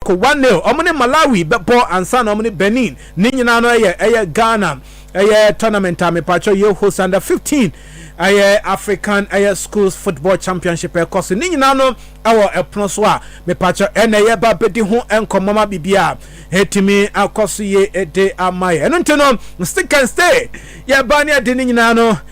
Ko Wa Nil, wɔn ne Malawi bɛbɔ ansa na wɔn ne Benin. Ne nyinaa no ɛyɛ ɛyɛ Ghana ɛyɛ tournament a mepakyɛw yɛ host under 15 ɛyɛ African ɛyɛ schools football championship ɛkɔ so. Ne nyinaa no ɛwɔ ɛpono so a mepakyɛw ɛna ɛyɛ ba bɛdi ho nkɔmmɔ ma biribi a ɛtumi akɔ so yie ɛde ama yɛ. Ɛno nti no stick and stay yɛ ba ne ɛde ne nyinaa no.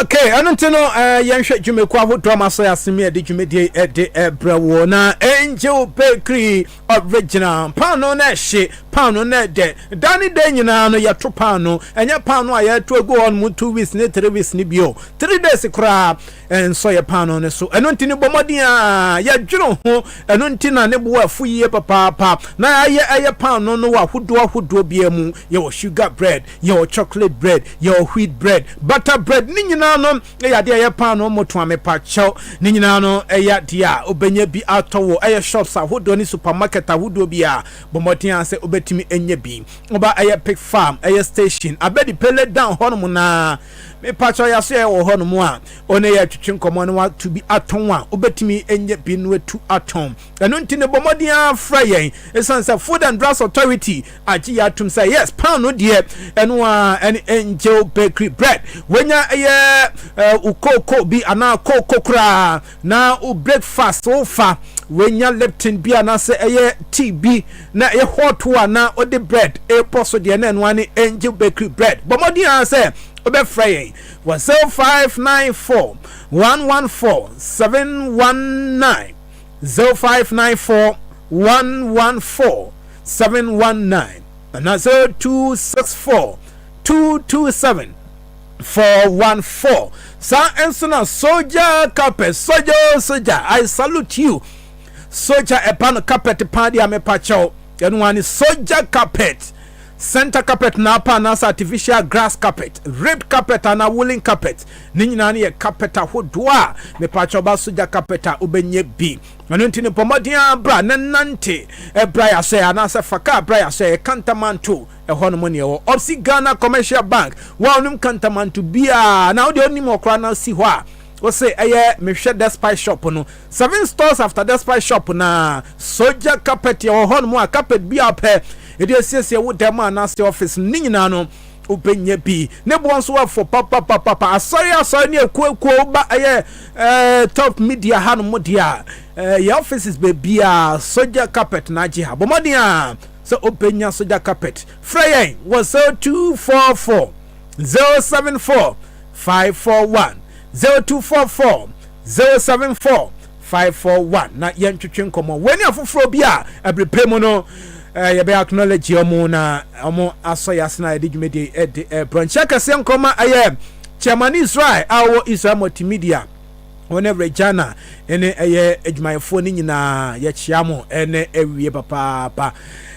Ok, ɛno nti no eh, yɛnhwɛ dwumakuo ahodoɔ ma so asem yɛde dwumadie eh, de eh, brɛ wo na Angel Bakery original paano na ɛhye paano na ɛdɛ da ne dɛ nyinaa no yɛto paano ɛnyɛ paano a yɛto agu hɔ no mu two weeks ne three weeks ne bio three days koraa ɛnsɔ yɛ paano no so ɛno nti ne bɔmmɔden a yɛdwene ho ɛno nti na ne boɔ afo yie papaapa na yɛayɛ ɛyɛ paano no wɔ ahodoɔ ahodoɔ biara mu yɛwɔ sugar bread Yɛwɔ chocolate bread, yɛwɔ wheat bread, butter bread, ne nyinaa no yɛ adeɛ a ɛyɛ paanoo mmotoa mepakyɛw. Ne nyinaa no yɛ adeɛ a wobɛnya bi atɔ wɔ ɛyɛ shops ahodoɔ ne supermarket ahodoɔ biara. Bɔ mmɔden ara sɛ wobɛtumi anya bi. Woba ɛyɛ pig farm ɛyɛ station, Abedi Pele down hɔnom no ara mepakyɛw yɛaso yɛ wɔ hɔnom a, wo ne yɛ twetwe nkɔmmɔ na watu bi atɔn a wobɛtumi anya bi no atu atɔn. Ɛno nti no bɔ mmɔden ara frɛ yɛn ɛsiane sɛ Food and Drugs Authority agye yɛ atom sɛ yes pound no deɛ ɛno a ɛne angel bakery bread wonya ɛyɛ wo kooko bi anaa kooko koraa na wo breakfast wofa wonya Lipton bi anaasɛ ɛyɛ tea bi na ɛyɛ hot wo a na wode bread ɛbɔ so deɛ na ɛno a ne angel bakery bread bɔ mmɔden ara sɛ wobɛfrɛ yɛn wɔ 0594 114 719 zero five nine four one one four seven one nine anaa zero two six four two two seven four one four saa nso na soja kapɛ soja o oh, soja i salute you soja ɛba no kapɛt paa deɛ mepa kyɛw ɛno ani soja kapɛt center carpet na apa anaasɛ artificial grass carpet red carpet ana woolen carpet Ne nyinaa no yɛ carpet ahodoɔ a mepaakyɛ ɔba so gya carpet a wobɛnyɛ bi ɛno nti no bɔ mmɔden ara bra na nante ɛbra yasɔɛ anaasɛ fa kaa bra yasɔɛ kantamanto ɛhɔ nom ne ɛwɔ opsi Ghana commercial bank wa onim kantamanto biaa na wodeɛ onim hɔ koraa na si hɔ a wose ɛyɛ mehwɛ despite shop no seven stores after despite shop na sogya carpet ɛwɔ hɔ nom a carpet biaa pɛ ɛde asiesie wo dɛm anaasɛ office no ne nyinaa no Wobɛnya bi. Ne boɔ nso afɔ papapapapa. Asɔre asɔre ne akuakuo woba ɛyɛ ɛɛ top media ha no mo deɛ a ɛɛ yɛ offices baabi a soja carpet na agye ha. Bɔmmɔden a sɛ wobɛnya soja carpet. Frɛ yɛn wɔ 0244 074 541 0244 074 Five, four, one, na yɛntwetwe nkɔmmɔ. Wei ne afoforɔ bi a ɛbere pɛ mu no eh, yɛbɛyɛ acknowledge wɔn na wɔn asɔ yɛ ase na yɛde dwumadie yi eh, de eh, brɔ nkyɛ kɛseɛ nkɔma ɛyɛ eh, chairman Israel a ɔwɔ Israel multimedia wɔn eh, Regina ɛne ɛyɛ adwumayɛfoɔ no nyinaa yɛkyea mo ɛne ɛwie papaapa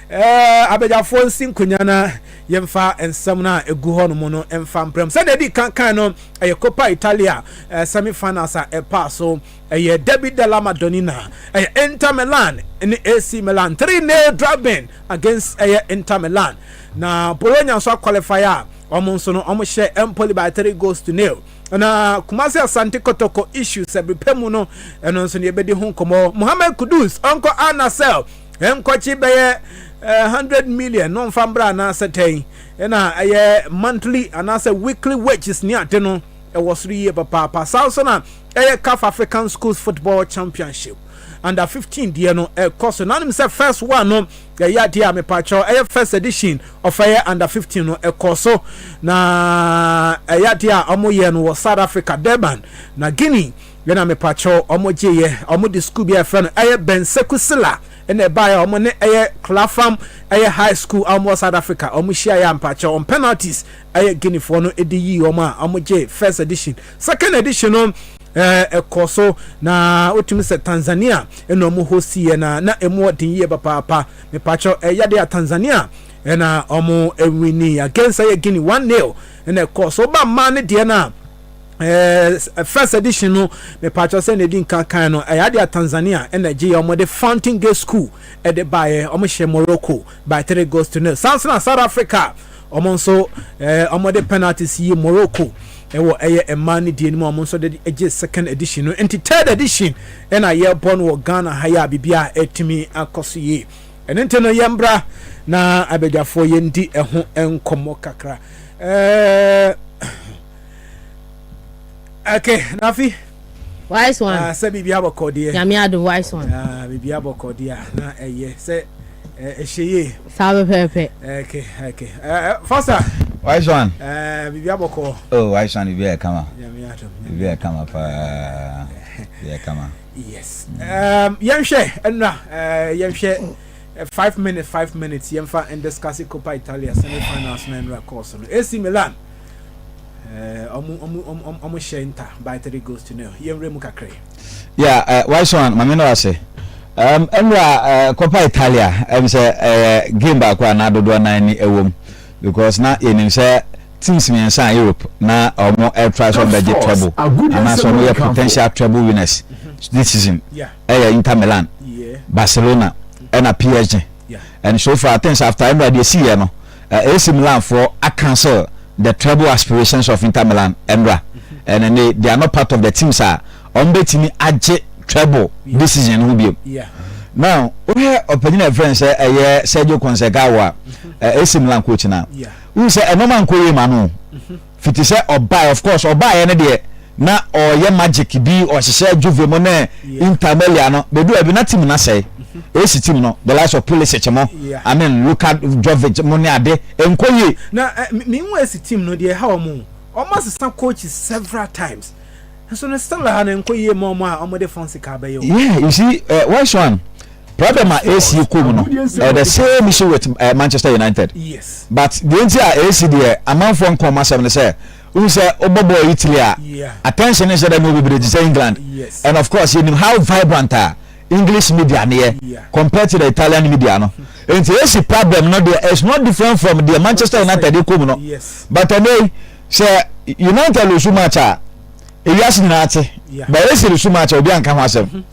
eh, abadwafoɔ nsi nkonya na yɛmfa nsɛm no a ɛgu hɔ nom no mfa mprɛm sɛdeɛ ɛdi kankan no ɛyɛ Coppa Italia eh, semi-finals a ɛpaa so ɛyɛ Derby della Madonnina ɛyɛ Inter Milan ne AC Milan 3-0 drubbing against ɛyɛ Inter Milan na Bologna nso aqualify a wɔn nso no wɔn hyɛ Empoli by 3 goals to nil na Kumasi Asante Kotoko issue sɛbrepɛ mu no ɛno nso ne yɛbɛdi ho nkɔmmɔ Mohammed Kudus ɔnkɔ Al Nassr ɛnkɔkye bɛyɛ 100 eh, million no mfa mbra anaasɛ dɛn Ɛna ɛyɛ monthly anaasɛ weekly wages ne ade no ɛwɔ soro yie papaapa. Saa nso na ɛyɛ CAF African Schools Football Championship under 15 deɛ no ɛkɔ so. Nanim sɛ first one no ɛyɛ adeɛ a mepaakyɛw ɛyɛ first edition of ɛyɛ under 15 no ɛkɔ so na ɛyɛ adeɛ a wɔn yɛ no wɔ South Africa Durban na Guinea. Ɛna mepaakyɛw wɔn gye yɛ wɔn de school bi a ɛfrɛ no ɛyɛ Benseku Sila. Ɛna ɛbaeɛ a wɔn ne ɛyɛ Clapham ɛyɛ High School a wɔn wɔ South Africa wɔn hyiaeɛ a mpakyɛw wɔn penalties ɛyɛ Guineafoɔ no de yii wɔn a wɔn gye first edition, second edition no ɛɛ ɛkɔɔ so na wotumi sɛ Tanzania ɛna wɔn hostiiɛ na na ɛmu wɔ den yie papaapa. Mepakyɛw ɛyɛ adeɛ a Tanzania ɛna wɔn ɛwinii against ɛyɛ Guinea one nil ɛna ɛkɔɔ so. Woba mmaa no deɛ no a. ɛɛ first edition no mepatwa sɛ na edi nkan kan no ɛyɛ ade a tanzania ɛna gye yɛ wɔn de fountain gate school ɛde baeɛ wɔn hyɛ morocco by three goals to nil sansana south africa wɔn nso ɛɛ wɔn de penalties yi morocco ɛwɔ ɛyɛ mmaa ne deɛ no mu wɔn nso de gye second edition no nti third edition ɛna yɛbɔ no wɔ ghana ha yɛ a biribi a ɛtumi akɔ so yie ɛne nti no yɛn bra na abadwafoɔ yɛn di ɛho nkɔmmɔ kakra ɛɛ. okay nafi wise one ah, sɛ biribi abɔkɔ deɛ nyame adom wise one ah, biribi abɔkɔ deɛ a na ɛyɛ sɛ ɛhyɛ yie saa pɛpɛɛpɛ okay okay fasa wise one biribi abɔkɔ oh wise one biribi ayɛ kama nyame adom biribi ayɛ kama paa biribi ayɛ kama yes um, yɛnhwɛ ɛnna uh, yɛnhwɛ uh, five minute five minutes yɛmfa ndiscase copa italia semi finals na ɛnra kɔɔ so no ac milan ɔmo hyɛ nta by three goes to nil yɛn wura mu kakra yi. ya wise one maame no ase um, ɛnura uh, kɔpa italia ɛm sɛ ɛyɛ game baako a na dodoɔ nan ni ɛwom because na yɛnim sɛ teams mmiɛnsa a europe na ɔmo ɛtra sɛ ɔmbɛgye treble anaasɛ ɔmo yɛ potential treble winners this season ɛyɛ inter milan barcelona ɛna psg and so far things after ɛnura deɛ si yɛ no AC Milanfoɔ a cancel the treble aspirations of Inter Milan mmra and then they, they are not part of the teams a wɔn bɛtumi agye treble decision no ho biom. Now wohwɛ ɔpanyin a yɛfrɛ no sɛ ɛyɛ Sergio Conceição a AC Milan coach no a wohu sɛ ɛnɔɔma nkɔ yie ma no. Fiti sɛ ɔbae, of course ɔbaeɛ no deɛ na ɔyɛ magic bi, ɔhyehyɛ juve mo ne Inter Melia no, bɛdu baabi na team no asɛe. AC team no, the likes of Pulisic mo, I mean Luka Jovic mo ne ade, ɛnkɔ yie. Na me nhu AC team no deɛ ɛha wɔn o, wɔn asesa coaches several times. Nso no still ha no nkɔ yie ma ɔmo a ɔmo de fon sika abɛyɛ o. Yeah you see eh, wise one problem a AC kɔ mu no ɛyɛ the same issue with eh, Manchester United Yes. but deɛ nti a AC deɛ amanfoɔ nka ɔmo asɛm no sɛ wohu sɛ wobɔ bɔɔl Italy a Yeah. attention no nhyɛ da nyɛ bebree te sɛ England Yes. and of course yɛnim how vibrant a English media no yɛ Yeah. compared to the Italian media no nti AC problem no deɛ is not different from deɛ Manchester United kɔ mu no Yes. but ɛnɛ yi sɛ united losu match a ewiase nyinaa te but ac losu match a obi anka ho asɛm mhm.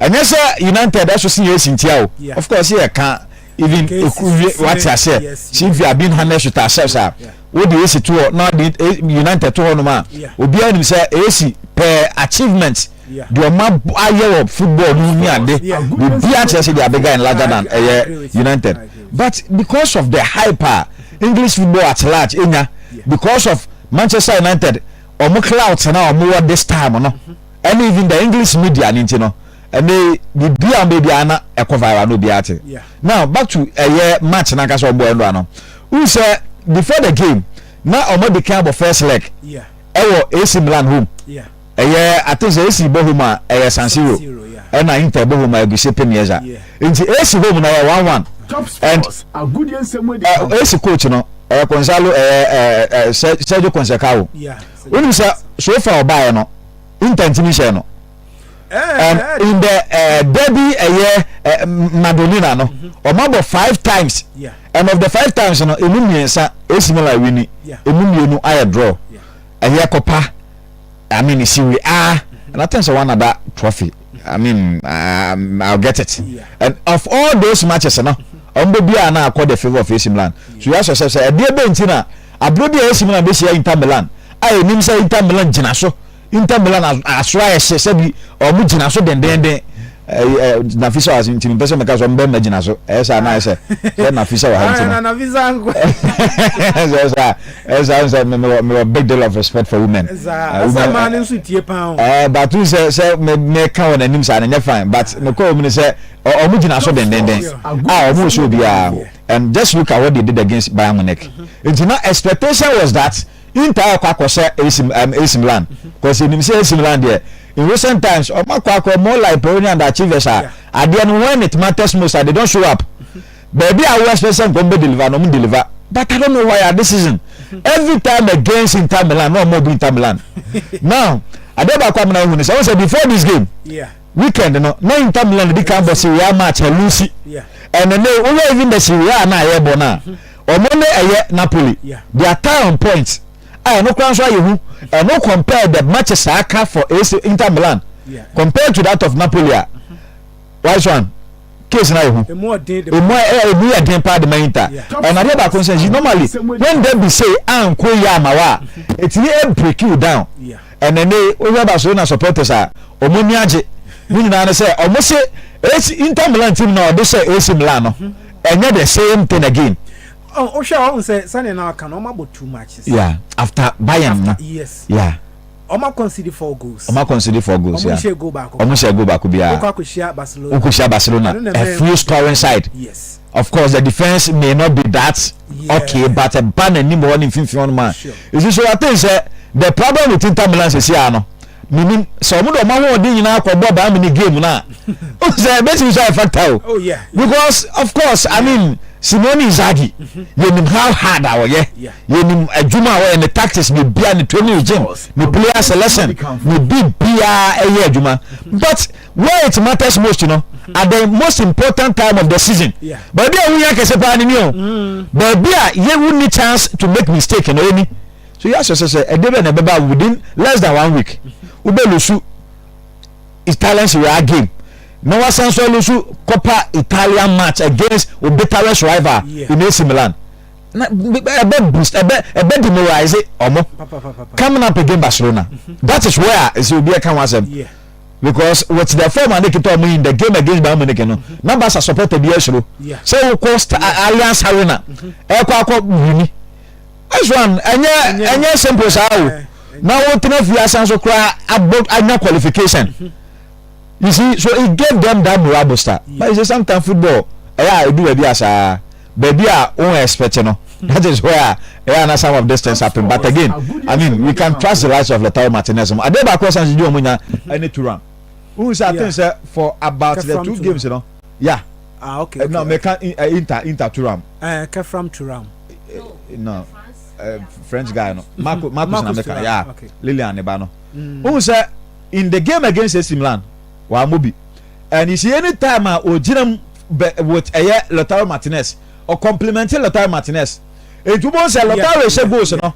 ɛnyɛ sɛ united ɛso sin ac ntia o of course yɛ ka even ekuru wate aseɛ since we have been harnessed with ourselves a wode ac to hɔ na wode eh, united to hɔ nom a obiara nim sɛ ac pɛɛ achievement deɛ ɔma ayɛ wɔ football no ne ade biribiara kyerɛ sɛ deɛ abega in larger than ɛyɛ united but because of the hype a. English football at large enya because of Manchester United wɔn clout na wɔn wɔ this time no ɛne even the English media ne nti no ɛne biribi a wɔn bɛ biara na ɛkɔ viral na obiara te now back to ɛyɛ match na nkasa wɔn bɔ ɛnura no n sɛ before the game na wɔn adi kan abɔ first leg ɛwɔ AC Milan home. Ɛyɛ ate dza esi bohom a ɛyɛ San Siro na Inter bohom a egu Sepe Mieza ntsi esi home na ɔyɛ one one and eh esi coach no ɔyɛ Consalo ɛyɛ eh eh Sergio Concecao wonim sɛ so far ɔbaeɛ no Inter ntimi nhyɛɛ no and in the eh derby ɛyɛ eh Madonina no ɔma bɔ five times and of the five times no emu mmiɛnsa esi Milan wini emu mmienu ayɛ draw. ɛyɛ kɔpa i mean siri ah and i think so one other trophy i mean um, i'll get it yeah. and of all those matches no ɔmbɛ biara na akɔ the favour of ac milan so yɛ asɔ sɛ sɛ ɛdeɛ bɛ nti na aburo bi a ac milan bɛ hyia inter milan a ɛnim sɛ inter milan gyina so inter milan asoro ayɛ hyɛ sɛbi ɔmo gyina so dendenden. Nafisa wɔ ha nti mepɛ sɛ meka sɛ ɔmbɛ mma gyina so ɛyɛ saa na ayɛ sɛ sɛ Nafisa wɔ ha nti no sɛ saa ɛyɛ saa sɛ mewɔ big deal of respect for women but wohu sɛ sɛ meka wɔ n'anim saa no nyɛ fine but nokɔ wɔ mu no sɛ ɔmo gyina so dendenden a ɔmo nso obiara and just look at what they did against Bayern Munich nti na expectation was that ntaa kɔ akɔhyɛ AC um, AC Milan because enim sɛ AC Milan deɛ in recent times ɔmo akɔ akɔ more like Peroni and Achievers a adeɛ no when it matters most a they don't show up baabi a wɔn expect sɛ nkɔm bɛ deliver na ɔmo deliver but I don't know why at this season every time against Inter Milan na ɔmo obi Inter Milan now adeɛ baako amena ohun sɛ ɔmo sɛ before this game weekend no na Inter Milan di kan bɔ si wia match na lusi ɛnna ne wúwo even the si wia na ayɛ bɔ na. Ɔmo ne ɛyɛ Napoli their tie on points a ɛno koraa nso ayɛ hu ɛno compare the matches a aka for AC Inter Milan compared to that of Napoli a wise one case no ayɛ hu emu ayɛ emu yɛ den paa de ma Inter ɛna adeɛ baako nso ɛyi normally when they be say anko yɛ ama wa a etimi e break you down ɛna ne ohwɛ Barcelona supporters a ɔmo ni agye ne nyinaa ne sɛ ɔmo se AC Inter Milan team na ɔde hyɛ AC Milan no. Ɛnyɛ the same thing again. Oh, wohwɛ a ɔhu sɛ sɛnea na ɔka no ɔma bɔ too much sɛ. Yeah, after Bayern no. After, yes. Yeah. Ɔma concede four goals. Ɔma concede four goals, yeah. Ɔmo nhyɛ goal baako. Ɔmo nhyɛ goal baako biara. Wokɔ akɔhyia Barcelona. Wokɔhyia Barcelona, a few scoring side. Yes. Of course, the defense may not be that yeah. okay, but ɛba n'anim hɔ ne mfimfini hɔ no ma. Sure. Esi so I think sɛ the problem with Inter Milan sisi ano. menim sɛ ɔmo de ɔmo ahoɔden nyinaa kɔ bɔ baa mi ne game no a o sɛ ebetumi nso ayɛ factor o oh, because of course i mean simone izagi mhm. yɛnim how hard a ɔyɛ yɛnim adwuma a ɔyɛ ne tactics ne bia ne training regime ne player selection ne bi biara ɛyɛ adwuma mhm. but where it matters most you know mhm. at the most important time of the season baabi a wunya kɛse paa ne ni o baabi a yɛ wunni chance to make mistake na ɛni. So yɛ ahyɛ sɛ sɛ ɛde bɛ na ɛbɛba within less than one week wobɛ lusu Italian Serie A game na wasan nso alusu Coppa Italia match against o bitterest rival yeah. in AC Milan na ɛbɛ boost ɛbɛ ɛbɛ demoralize ɔmo coming up against Barcelona mm-hmm. that is where ɛsɛ obi ɛka ho asɛm because with the form and ekita ɔmo in the game against Bayern Munich no mm-hmm. na Barca supporter bi ɛsoro sɛ wokɔ Allianz Arena ɛkɔ mm-hmm. akɔ wini. This one ɛnyɛ ɛnyɛ simple saa o na wo tena fie asan so kora abɔ anya qualification mhm. you see so it gave them that morale booster but you say sometimes football ɛyɛ a edu baabi asaa baabi a wɔn expect no hmm. that is where ɛyɛ na some of these things happen but again i mean we can trust the likes of Lautaro Martinez mo adeɛ baako ɛsan si di wɔn nya ɛne turan n sɛ aten sɛ for about the two games no yeah. Ah, okay, okay. No, meka inter inter turam. Eh, kefram turam. No, French guy no. Marco Marcus na meka. Yeah. Lilian ne ba no. Who say in the game against AC Milan, wa mobi. And you see any time a ogyinam with ɛyɛ Lautaro Martinez, or complimenting Lautaro Martinez. Etu bo sɛ Lautaro ɛhyɛ goals no.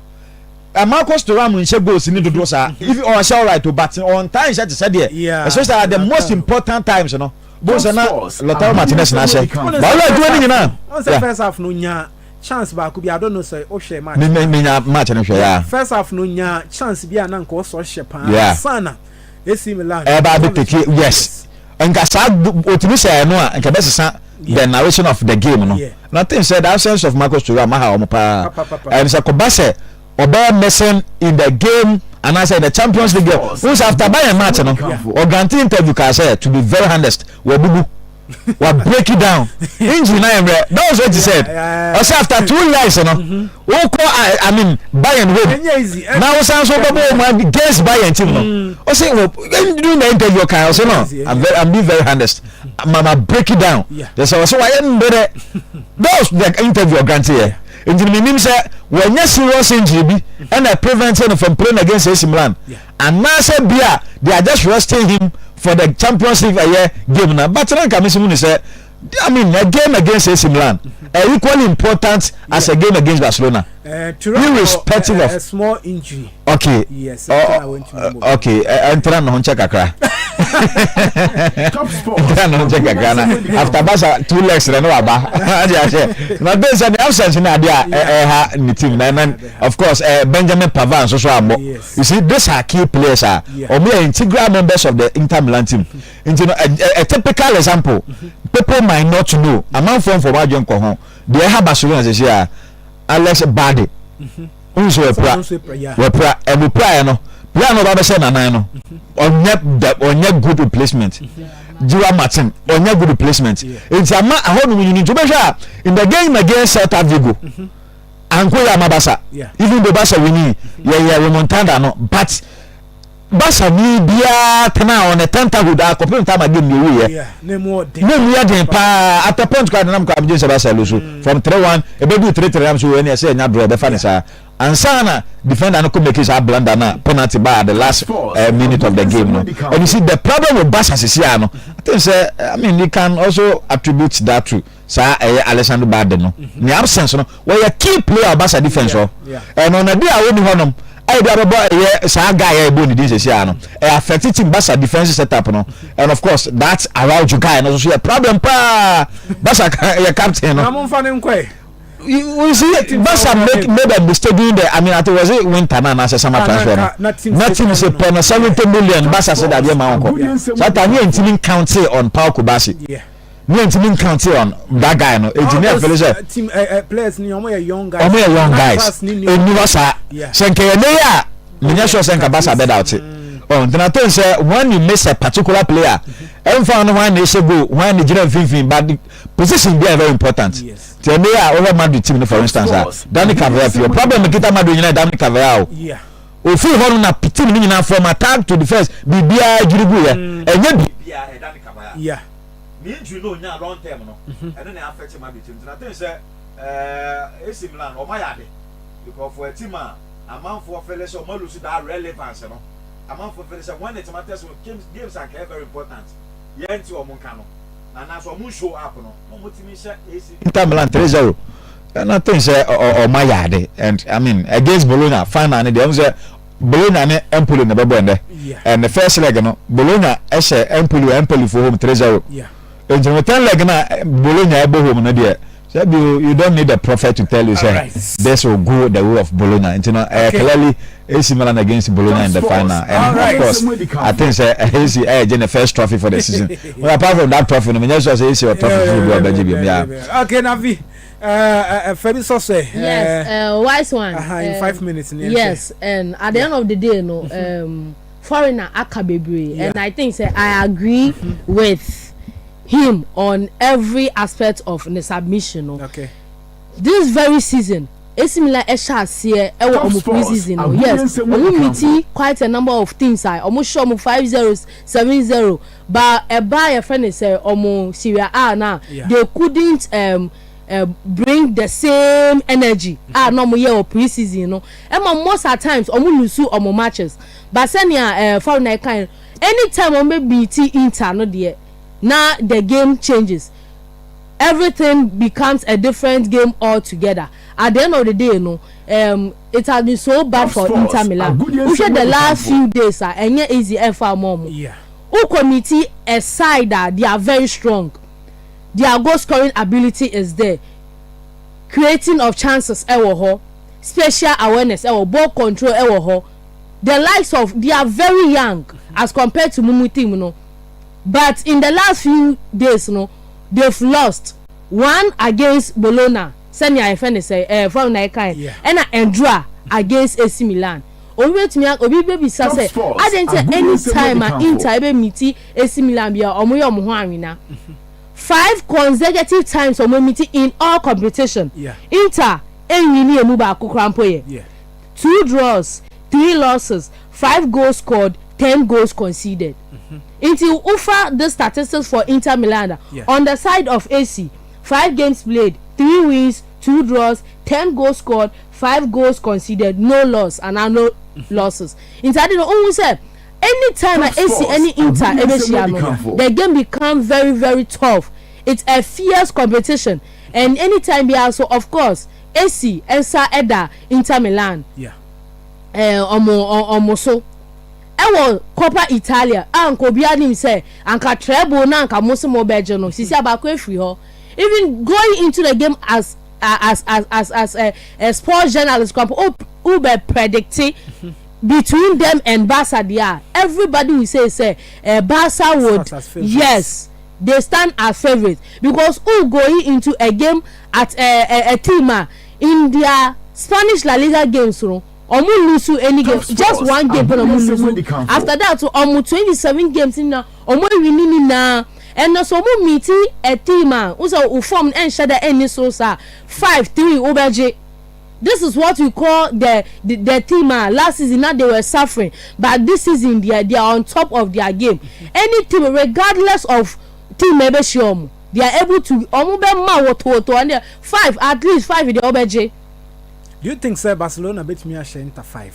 Eh, Marcus Thuram nhyɛ goals ni dodo saa. If ɔhyɛ alright o, but on time nhyɛ te sɛ deɛ. Especially at the most important times no. You know? bó sɛ na lɔtaro martinez na ahyɛ bawolo adwuma no nyinaa. wọn sɛ first half no nya chance baako bi adɔ no sɛ ɔhwɛ match. mi mi nya match no hwɛ ya. first half no nya chance bi a na nka ɔsɔ hyɛ paa sana AC Milan. ɛba bi tete yes nka saa otumi sɛ ɛno a nka bɛ sisa the narration of the game no na ten sɛ that sense of Marcus Thuram aha wɔn paa ɛn sɛ kɔba sɛ. ɔbɛyɛ missing in the game anaasɛ in the champions league n sɛ after bayern match no ɔgrante interview kaa sɛ to be very honest wabubu wa break it down injury na yɛ mmerɛ that was what he said ɔsɛ after two years no wokɔ i mean bayern home na wosan so wobɛbɔ wɔn against bayern team no ɔsɛ during the interview ɔkaa ɔsɛ no i'm, very, I'm being very honest mama break it down yɛ sɛ ɔsɛ wayɛ mmerɛ that was the interview ɔgrante yɛ Nti no mennim sɛ wanya serious injury bi ɛna e prevent no from playing against AC Milan anaasɛ bia they are just resting him for the Champions League ɛyɛ game na but na nka mesi hu ne sɛ I mean a game against AC Milan are equally important as a game against Barcelona, uh, irrespective uh, of. A small injury. Okay. Yes. Oh, oh, okay. Enter eh, eh, no honche kakra. Top sport. Enter no honche kakra na. After basa two legs na no aba. Adi ahye. Na be say the absence na dia eh ha ni team na na of course eh Benjamin Pavard so so abo. You see these are key players ah. Omo are integral members of the Inter Milan team. Nti no a typical example. People might not know. Among form for wadwen ko ho. They have Barcelona say Alex Bade. Mm-hmm. wohu sɛ wɔpira wɔpira ɛmu piraeɛ no player no ɔba bɛhyɛ nanan no ɔnyɛ da ɔnyɛ good replacement jiwa martin ɔnyɛ good replacement nti ama ɛhɔ nom nyini nti wobɛhwɛ a in the game against celta vigo anko yɛ ama basa even though basa wini yɛyɛ remontada no but Basanni biara tenaa hɔ, ne Tantahud ara kɔpem Tamar Game deɛ wuiɛ. Na emu yɛ den paa. Na emu yɛ den paa. At a point koraa denam kɔ a megye sɛ Basel no so from three one ɛbɛduu three three nam so ɛnneɛ sɛ ɛnya draw ɛbɛfa ne saa ansa na defender no kɔ make saa blunder na penalty baa at the last uh, minute of the game no. And you see the problem with Barca sisi ano, I think sɛ I mean you can also attribute that to saa ɛyɛ Alessandro Balde no mhm. ne absence no wɔyɛ key player Barca defense hɔ ɛno na de a wɔni hɔnom ɛyɛ de abɛbɔ ɛyɛ saa guy a ɛbɔ ne din sɛsi ano ɛyɛ affect team Barca defense setup no and of course that Araujo guy no so yɛ problem paa Barca yɛ captain no. na mo nfa ne nkɔɛ. you see Barca make made a mistake during the I mean I think was it winter na na sɛ summer transfer no na team se pɛ no seventy million Barca se dadeɛ ma wɔn kɔ sata ne yɛ ntumi count on Pau Kubasi. Yeah. mi yɛn ti mi nkan ti ɔn that guy no eti ne ɛfɛlɛ sɛ ɔmo yɛ young guys eniwa saa sɛ nka yɛ ne yɛ a mi nyɛ sure sɛ nka basa bɛ da ɔte ɔn tena ten sɛ when you miss a particular player ɛnfa no wɔn na ɛhyɛ goal wɔn na gyina mfinfin but position bi a very important ti ɛne yɛ a ɔhɛ madrid team no for instance a dani kavaya fi ɔ problem kita madrid nyina dani kavaya o. Ofii hɔ no na team no nyinaa from attack to defence biribiara dwiri guiɛ. Ɛnyɛ biribi. Yeah. Ne injury no ɔnyaa long term no ɛno na affect ma betwam nti na think sɛ eh, AC Milan no ɔmo ayɛ ade because for a team a amanfoɔ fele sɛ ɔmo alose that relevance no amanfoɔ fele sɛ when it matters games anka ɛyɛ very important. yɛnte wɔn nka no na anaasɛ wɔn show up no na wɔn tumi hyɛ AC. Inter Milan three zero ɛna ten sɛ wɔn ayɛ ade and I mean against Bologna final ne deɛ wɔn sɛ Bologna ne Empoli na bɛbɔ ɛnɛ and the first leg no Bologna ɛhyɛ Empoli wɔ Empolifo home three zero nti no ten leg na Bologna ɛbɔ home no deɛ Sɛ bi o, you don't need a prophet to tell you sɛ this will go the way of Bologna. Nti no, ɛyɛ clearly AC Milan against Bologna in the final. And of course, I think sɛ AC ɛyɛ gye ne first trophy for the season. Well, apart from that trophy no, menyɛ sure sɛ AC wɔ trophy foforo bi a ɔbɛgye biom. Yeah. Okay, Navi. Fabi Soswe. Yes, uh, wise one. Uh, in five minutes. Yes, and at the end of the day, no. Um, foreigner aka bebree yeah. and I think say I agree mm -hmm. with him on every aspect of the submission no. Okay. This very season esimila ɛhyɛ aseɛ ɛwɔ ɔmo pre-season no yes ɔmo miti quite a number of teams a ɔmo hyɛ ɔmo five zero seven zero ba ɛba yɛfrɛ ne sɛ ɔmo Syria A na they couldn't um, bring the same energy a na wɔyɛ wɔ pre season no ɛma most at times wɔn lusu wɔn matches but sɛnea ɛɛ foreigner kan no anytime wɔn bɛ beat inter no deɛ na the game changes everything becomes a different game altogether at the end of the day no um, it has been so bad for inter milan wohwɛ the last few days a ɛnyɛ easy ɛfa wɔn wɔn wokɔ miti a side a they are very strong. Their goal scoring ability is there, creating of chances wɔ hɔ, spatial awareness wɔ ball control wɔ hɔ, the likes of they are very young as compared to mumu team no but in the last few days no they've lost one against Bologna sɛnea yɛfɛ ne sɛ ɛɛ fam na ɛka yɛ ɛna ɛndura against AC Milan obi bɛtumi obi bɛbisa sɛ adɛn nti anytime a Inter ɛbɛmiti AC Milan bia ɔmo yɛ ɔmo ho anwena five consecutive times ɔmo emiti in all competition Inter enwini emu baako koraa mpo yɛ two draws three losses five goals scored ten goals conceded nti wo fa this statistics for Inter Milan a on the side of AC five games played three wins two draws ten goals scored five goals conceded no loss anaa no losses nti ade no wo hu sɛ. Any time a Esi ɛne Inter ɛbɛhyia no, the game become very very tough, it's a fierce competition and any time biara nso of course Esi nsa ɛda Inter Milan ɛɛ wɔn wɔn so ɛwɔ Coppa Italia a anka obiara nim sɛ anka treble na anka wɔn se wɔn bɛgye no, sisi a baako afiri hɔ. Even going into the game as as as as as a, a sports journalist koraa mpo, wo wo bɛ predicte. Between them and Barca deɛ a, everybody will say sɛ eh, Barca would, Start as favourites. yes, they stand as favourites because who going into a game at eh, eh, a team a in their Spanish La Liga games no, wɔn lose any game, Top just scores, one game pɛ na wɔn Abonneɛsɛm lose, Adikanfoɔ. after that so wɔn twenty seven games no nyinaa wɔn awi ne nyinaa, ɛnna so wɔn meeti a team a, wo sɛ wo form no ɛnhyɛ da ɛnni soro saa, five, three wobɛgye. This is what we call the the, the team ah last season na they were suffering but this season they are, they are on top of their game any team regardless of team ebe hyɛ wɔn they are able to wɔn bɛ ma wotowoto wɔn deɛ five at least five deɛ wɔbɛgye. Do you think sɛ Barcelona betumi ahyɛ Inter five?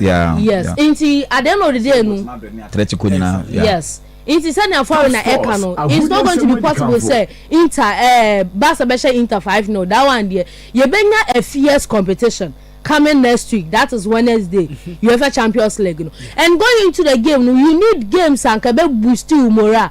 Yeah. Yes. Yeah. Nti at the end of the day no. Threat ko nyinaa. Yeah. Yes. Nti sɛ nea foreign na ɛka no it's not going to be possible sɛ inter ɛɛ eh, Barca bɛhyɛ inter five no that one deɛ yɛbɛnya a fierce competition coming next week that is Wednesday mm-hmm. UEFA Champions League no and going into the game no you need games anka bɛ boost you morale.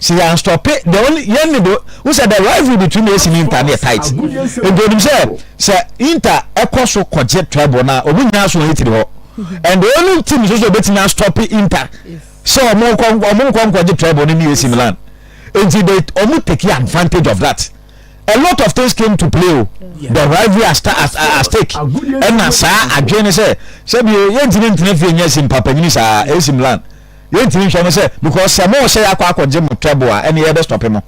sɛ yɛn stɔpe deɛ ɔne yɛn ne do n sɛ the rivalry between AC ne Inter ne yɛ tight nti onim sɛ sɛ Inter ɛkɔ so kɔgye treble na ɔmo nyinaa so wɔn etiri hɔ and the only team nso so obetumi astɔpe Inter sɛ ɔmo nkɔ ɔmo nkɔ nkɔgye treble ne ne AC Milan nti they ɔmo take advantage of that a lot of things came to play o the rivalry at stake ɛna saa adwene ne sɛ sɛbi yɛntumi ntena fie nyɛ si mpapanyini saa AC Milan. Yɛntumi nhwɛ no sɛ because sɛ mo sɛ yɛakɔ akɔgye mo table a ɛne yɛbɛ stop mo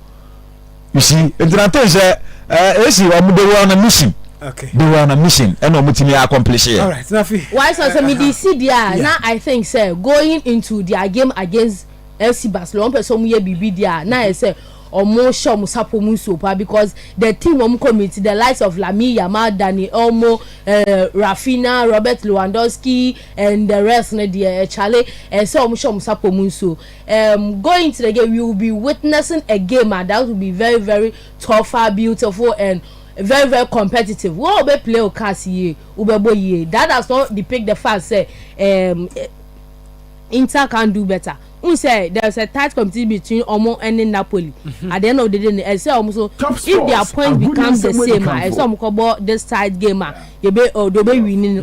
you see nti na ten sɛ eh, esi wɔn de wɔn na mission Okay. de wɔn na mission ɛna wɔn tumi accomplish yɛ. Alright, na afei. Why so so me dey see dia Yeah. na I think say going into their game against FC Barcelona one person omo ye bibi dia na I say omo show omo sapo mu so pa because the team omo commit the likes of Lamine Yamal, Dani Olmo, uh, Rafinha, Robert Lewandowski, and the rest no deɛ eh, chale eh, sɛ wɔn hyɛ wɔn sapɔ mu nsuo um, going to the game we will be witnessing a game ah, that will be very very tough ah, beautiful and very very competitive wɔn a wɔbɛ play o cars yie wɔbɛ bɔ yie that does not depict the fact sɛ um, eh, Inter can do better n sɛ there is a tight competition between ɔmo ɛne Napoli mhm. at the end of the day no ɛsɛ ɔmo so if their points become the same a ɛsɛ ɔmo kɔ bɔ this tight game a yɛbɛ ɔdɔ bɛ win no.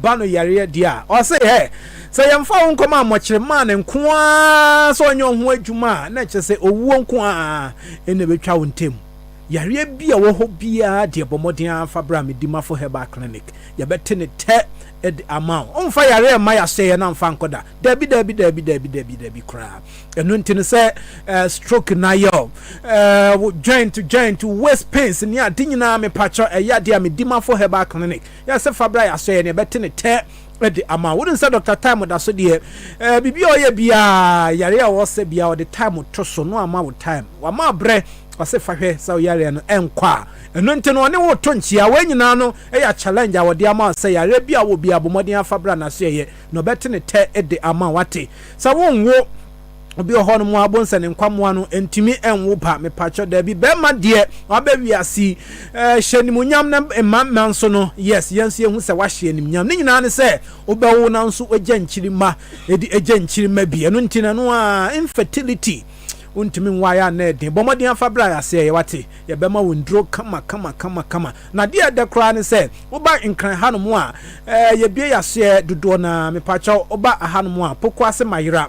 ba no yareɛ deɛ a, ɔse hɛ, sɛ yɛmfa wo nkɔma mmɔkyere maa no nko ara sɛ ɔnyɛ ɔho adwuma a, na kyerɛ sɛ owuo nko ara ɛna ɛbɛtwa wo ntam. Yareɛ bi a ɛwɔ hɔ biara deɛ bɔ mmɔden ara fa bra Medimafo Herbal Clinic, yɛbɛte ne tɛ de ama wo. Womfa yareɛ mma yɛahyɛeɛ na mfa nkɔ da. Daabi, daabi, daabi, daabi, daabi, daabi koraa. Ɛno nti no sɛ eh, stroke na yɛ o, eh, joint, joint, waist pains ne ade nyinaa mepakyɛ ɛyɛ adeɛ a Medimafo Herbal Clinic Yɛ sɛ fa bra yɛ asɔ yɛ na yɛbɛte ne tɛ de ama wo. Wonim sɛ Dɔkta Time da so deɛ eh, biribi a ɔyɛ biara, yare a ɔwɔ sɛ biara ɔde time to so no ama wo time. Wama abrɛ, ɔse fa hwɛ sɛ ɔyareɛ no ɛnkɔ a. Ɛno nti no ɔne wo to nkyia. Wei nyinaa no ɛyɛ challenge a ɔde ama wo sɛ yareɛ bi a wɔ biara bɔ mmɔden afa bra n'asoɛyɛ na ɔbɛte ne tɛ de ama wo ate. Sɛ wonwo. Obi wɔ hɔnom a ɔbonsɛ ne nkwamoa no ntumi nwo ba mepakyɛ daabi bɛrima deɛ wabɛ wiase ɛɛ eh, hyɛ nimunyam na mma mma nso no yes yɛn nso yɛhu sɛ wahyɛ nimunyam ne nyinaa ne sɛ wobɛwo na nso wagya nkyirima ɛdi agya nkyirima bi ɛno nti na no a infertility wontumi nwaeɛ a na ɛden bɔ mmɔden afa berɛ a yɛaseɛ yɛ wate yɛbɛma wo nduro kama kama kama kama na deɛ ɛdɛ koraa ne sɛ woba nkran hanom a eh, yɛbie yɛaseɛ dodoɔ na mepakyɛw woba ahanom a poko ase mayera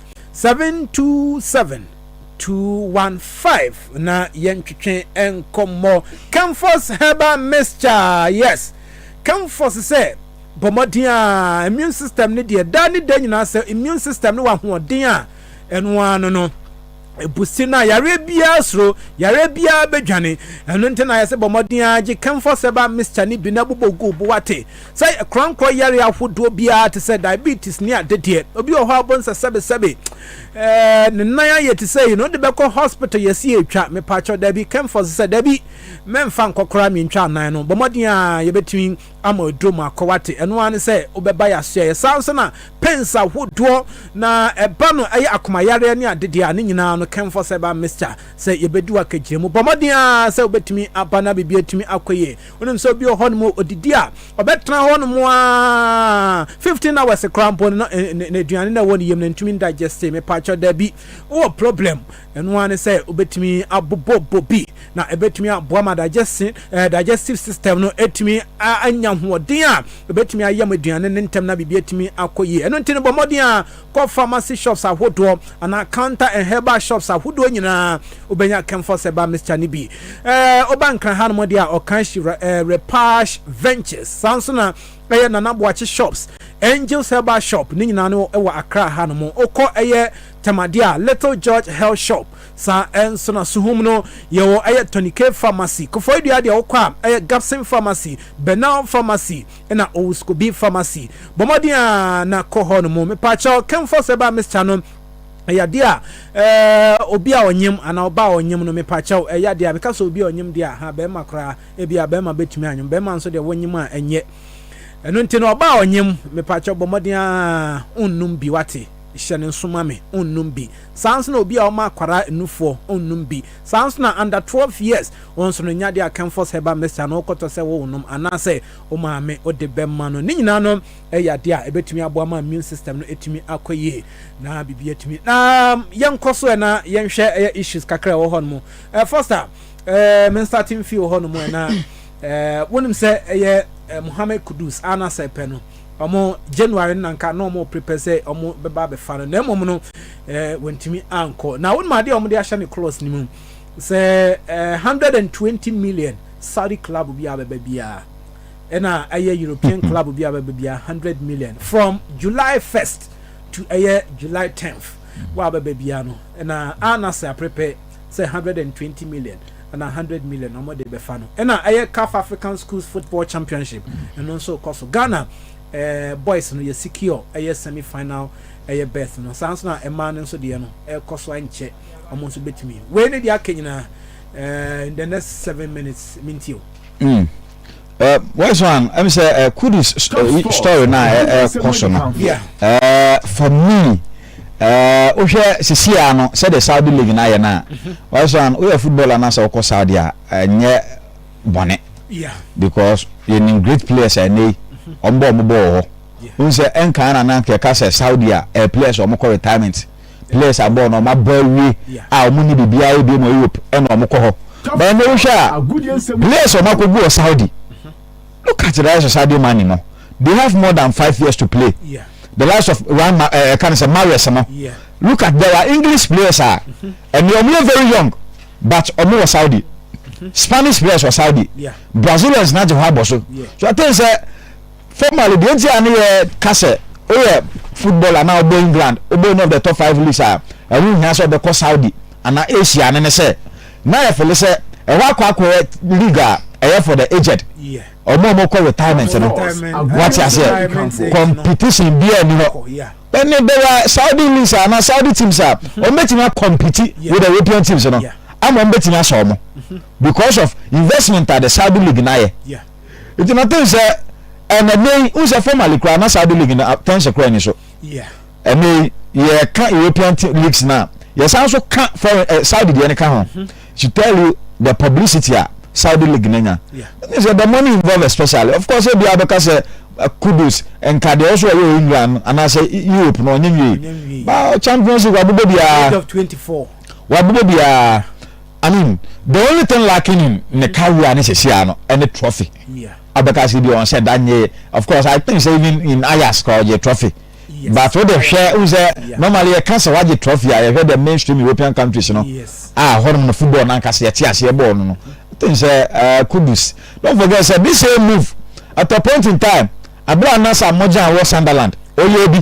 727215 na yɛntwetwe nkɔmmɔ Camphos herbal mixture yes Camphos sɛ bɔ mmɔden a immune system no deɛ da ne da nyinaa sɛ immune system no wɔ ahoɔden a ɛno ara no no ebusi na yareɛ biara soro yareɛ biara bɛdwane ɛno nti na yɛsɛ bɔ mmɔden a gye Camphos herbal mixture no bi na bobɔ gu bo wate Sɛ korankɔ yare ahodoɔ biara te sɛ diabetes ne ade deɛ, obi wɔ hɔ a ɔbɔ nsɛ sɛbesɛbe ɛɛ ne nan ayɛ te sɛ yi na ɔde bɛkɔ hospital yɛsi atwa mepakyɛw dabi kɛmfɔs sɛ dabi mɛmfa nkɔ koraa mentwa anan no bɔ mmɔden a yɛbɛtumi ama aduro mu akɔ wate ɛno ara ne sɛ wobɛba yɛasoɛ yɛ saa nso na pens ahodoɔ na ɛba no ɛyɛ akomayareɛ ne ade deɛ a ne nyinaa no kɛmfɔs ɛba mixture sɛ yɛbɛdi wakagyina mu bɔ mmɔden a sɛ wobɛtumi aba na biribi atumi akɔ yie Wonim sɛ obi wɔ hɔnom a odidi a ɔbɛtena hɔnom aa 15 hours koraa mpo no n'aduane na ɛwɔ ne yam no ntumi ndigeste mepaakyɛ daabi wowɔ problem ɛno ara ne sɛ wobɛtumi abobɔbɔ bi na ɛbɛtumi aboa ma digestion eh, digestive system no ɛtumi anya hoɔden a ɛbɛtumi ayam aduane no ntɛm na biribi atumi akɔ yie ɛno nti no bɔ mmɔden a kɔ pharmacy shops ahodoɔ anaa counter and herbal shops ahodoɔ nyinaa wobɛnya camphor ceba mixture no bi. Ɛɛ woba nkran hanom deɛ a ɔkan hyi ɛɛ repash ventures saa nso na ɛyɛ nana boakye shops angels herbal shop ne nyinaa no ɛwɔ akra hanom wokɔ ɛyɛ tɛmadeɛ a little george health shop saa ɛnso na suhum no yɛwɔ ɛyɛ tonic pharmacy kofoɔ dua deɛ wokɔ a ɛyɛ gapsin pharmacy benal pharmacy na owuskobi pharmacy bɔ mmɔden a na kɔ hɔ no mu mepaakyɛw kɛmfɔ sɛ ba mixture no ɛyɛ adeɛ a ɛɛ obi a ɔnyem anaa ɔba a ɔnyem no mepaakyɛw ɛyɛ adeɛ a meka sɛ obi a ɔnyem deɛ a ha bɛrima koraa ebi a bɛrima bɛtumi anyem bɛrima nso deɛ wɔnyem a ɛnyɛ ɛno nti no ɔba a ɔnyem mepaakyɛw bɔ mmɔden a onnum bi wate hyɛ ne nso ma me onnum bi saa nso na obi a ɔma akwara nnufoɔ onnum bi Saa ara nso na under twelve years wɔn nso no nya de a Kempfors herbal mixture no wokɔtɔ sɛ worenom anaasɛ wo maame wode bɛma no. Ne nyinaa no yɛ adeɛ a ɛbɛtumi aboa ma immune system no atumi akɔ yie na biribi atumi na yɛnkɔ so na yɛnhwɛ ɛyɛ issues kakra a ɛwɔ hɔ no mu. Eh, Foster, eh, me nsate mfii wɔ hɔ no mu na eh, wonim sɛ ɛyɛ eh, Mohammed Kudus a na sɛ pɛ no Wɔn January no na nka na wɔn reprepare sɛ wɔn bɛba abɛfa no na mmom no eh, wɔntumi ankɔ. Na wɔn adeɛ a wɔn de ahyɛ ne clause no mu sɛ eh, 120 million Saudi club bi a bɛba biara ɛna ɛyɛ European club bi a bɛba biara 100 million from July 1st to ɛyɛ July 10th wɔ a bɛba biara no ɛna Al Nassr aprepare sɛ hundred and twenty million anaa hundred million na wɔde bɛfa no ɛna ɛyɛ caf african schools football championship ɛno nso rekɔ so ghana ɛɛ eh, boys no yɛ secure ɛyɛ semi final ɛyɛ berth no saa nso na ɛmaa no nso deɛ no ɛrekɔ so ankyɛ wɔn nso betumi wei ne deɛ aka nyinaa ɛɛ eh, in the next seven minutes mintio. Mm. Uh, where's one? Let me say, uh, Kudus uh, story now, uh, uh, Yeah. Uh, for me, uh, wohwɛ sisi a no sɛ de saudi league no ayɛ no a where's one woyɛ football anaasɛ wokɔ saudi a ɛnyɛ bɔne because yɛnim great players ɛnɛ yi ɔmbɔ ɔmo bɔɔ hɔ wohu sɛ ɛnkaa na na kɛka sɛ saudi a uh, players ɔmo kɔ retirement players abɔ wɔn wɔn abɔ awie a wɔn ni biribiara yɛ bio mu europe ɛna wɔn kɔ hɔ bɛn na wohwɛ a players wɔn akɔ gu wɔ saudi look at the rise of saudi money no they have more than five years to play the rise of one ma ɛɛ kan sɛ marius no look at there are english players a ɛni wɔn yɛ very young but wɔn wɔ saudi spanish players wɔ saudi brazilians na gye hɔ abɔ so so i think sɛ. Formerly, deɛ nti a ne yɛ ka sɛ woyɛ football anaa wobɔ England, wobɔ any of the top five leagues a, ɛho nhia sɛ wobɛkɔ Saudi anaa Asia no ne sɛ, na yɛfele sɛ ɛhɔ akɔ akɔyɛ league a ɛyɛ for the aged, wɔn a wɔkɔ retirement no. Wate aseɛ? Competition biara nni hɔ. Ɛne there are Saudi leagues a anaa Saudi teams a wɔbɛtumi akɔmpiti with the European teams no ama wɔbɛtumi asɔ wɔn because of investment a the Saudi league no ayɛ. nti na ten sɛ ɛna nɛ yi n sɛ formally koraa na Saudi league no ten sɛ kora ni so ɛnɛ yi yɛka European leagues no a yɛsan so ka foreign eh, Saudi deɛ no ka ho mhm. she tell you the publicity a Saudi league no nya ne sɛ the money involved especially of course ebi abɛka sɛ eh, kudus nka deɛ ɔso ɔyɛ England anaasɛ Europe no ɔnyɛ nwie ba Champions League wabobɔ biara wabobɔ biara I mean the only thing lacking in ne career ne sesia no ɛne trophy. Abɛkase bi wɔn sɛ da nye of course I think sɛ even in Ayas kora ɔgye trophy. But o de hwɛ n sɛ normally yɛka sɛ wagye trophy a yɛhwɛ the mainstream European countries no a hɔnom no football nankasa yɛte aseɛ bɔɔl no no. I think sɛ uh, Kudus don't forget sɛ this same move at a point in time Aberɛ a na saa mmɔgyen a wɔ Sunderland ɔyɛ bi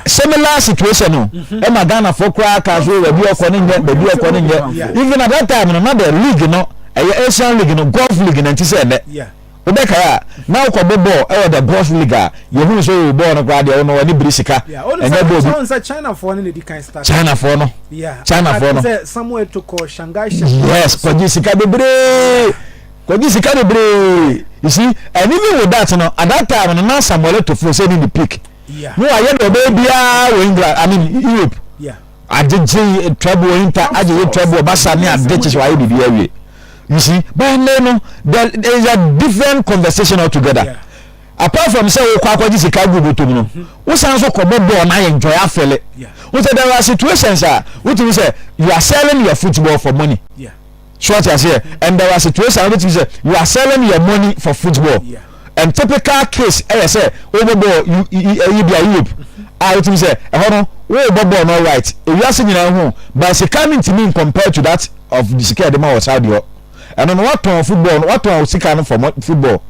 similar situation no ɛma Ghanafoɔ koraa kaa so baabi ɔkɔ no nyɛ baabi ɔkɔ no nyɛ even at that time no na the league no ɛyɛ Asian league no golf league na nti sɛ ɛnɛ wobɛkae a na wokɔ bɔ bɔɔl ɛwɔ the golf league a yɛhunu sɛ o bɔɔl no koraa deɛ ɔno ɔne biri sika ɛnyɛ bɔɔl bi Chinafoɔ no na ɛdi kan start Chinafoɔ no Chinafoɔ no Samuel Tokɔ Shanghai yes kɔgye sika bebree Kɔgye sika bebree. You see, and even with that, no, at that time, no, na Samuel Eto'fo sɛ ne ne peak. Yeah. No, ayɛ dɛ ɔbɛyɛ biara wɔ England, I mean Europe. Yeah. Agyegye trouble inter, agyegye trouble basa ne ade kyekye wayɛ biribi awie. You see, but ɛnna no, there is a different conversation altogether. Yeah. Apart from sɛ wokɔ akɔgye sika gu botom no, mm-hmm. wosan nso kɔbɔ bɔɔl na ayɛ enjoy afɛle. Wosɛ there are situations a wotumi sɛ you are selling your football for money. Yeah. So wate aseɛ? And there are situations a wobɛtumi sɛ you are selling your money for football. And typical case ɛyɛ sɛ wobɔ bɔɔl you ɛyi bi a Europe a wotumi sɛ ɛhɔ no wobɔ bɔɔl no alright ewiase nyinaa ho but sika no ntumi in compare to that of sika ɛde ma wɔ Saudi hɔ ɛno no watɔn football no watɔn sika no for football